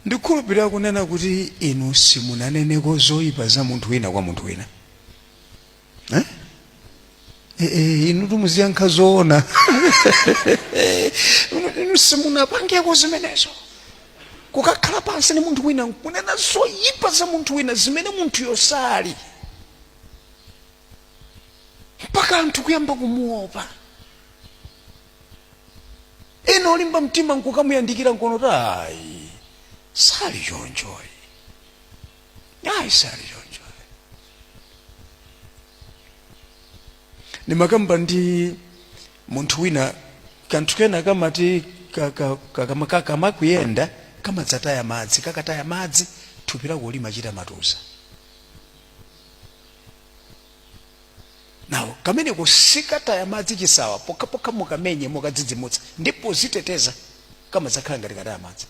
ndikhulupirira kunena kuti inu simunaneneko zoyipa za munthu wina kwa munthu wina eh? E, e, inu timuziyankha zoona inu simunapangeko zimenezo kukakhala pansi ni munthu wina nkunena zoyipa za munthu wina zimene munthuyo sali mpaka anthu kuyamba kumuopa ena olimba mtima nkukamuyandikira nkuona kuti ayi sali chonchoyi ayi sali chonchoyi ndimakamba ndi munthu wina kanthu kena kamati ka- ka- ka- kama- ka- kamakuyenda kamadzataya madzi kakataya madzi thupi lako limachita matuza now kameneko sikataya madzi chisawa pokhapokha mukamenye mukadzidzimutsa ndiye poziteteza kamadzakhala ngati kataya madzi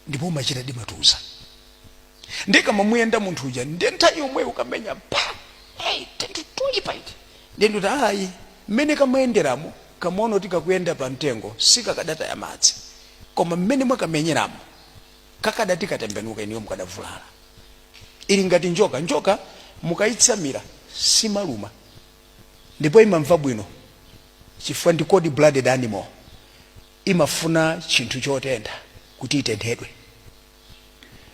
ndipo umachita timatuza ndiye kamamuyenda munthu uja ndiye nthawi yomweyo kumenya pa hey, tinthu toyipa iti ndiye ndikuti ayi mmene kamayenderamo kamaona kuti kakuyenda pa mtengo sikakadataya madzi koma mmene mwakamenyeramo Kakadati katembenuka inuyo mukadavulala. Ili ngati njoka. Njoka mukaitsamira simaluma ndipo imamva bwino chifukwa ndi cold blooded animal. Imafuna chinthu chotentha kuti itenthedwe.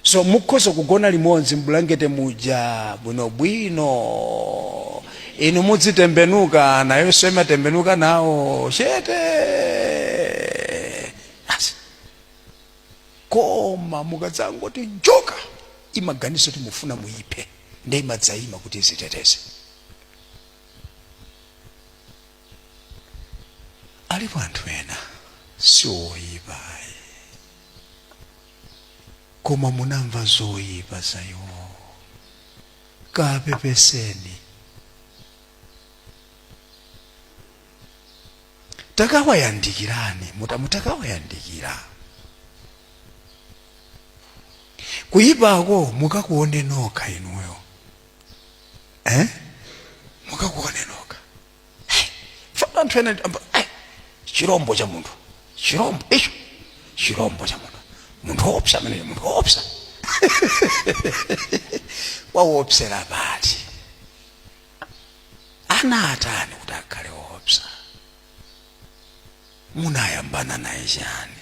So mukhoza kugona limodzi m'bulangete muja bwinobwino, inu muzitembenuka nayonso imatembenuka nawo chete. koma mukadzangoti njoka imaganiza kuti mufuna muyiphe nde imadzayima kuti iziteteze alipo anthu ena sioyipa ayi koma munamva zoyipa za iwo kapepeseni takawayandikirani muta mutakawayandikira kuyipako mukakuone nokha inuyo eh? mukakuone nokha Eh, fanana anthu ena amba, eh, chirombo cha munthu chirombo icho chirombo cha munthu munthu woopsa ameneyo munthu woopsa wawoopsera pati anatani kuti akhale woopsa munayambana naye chani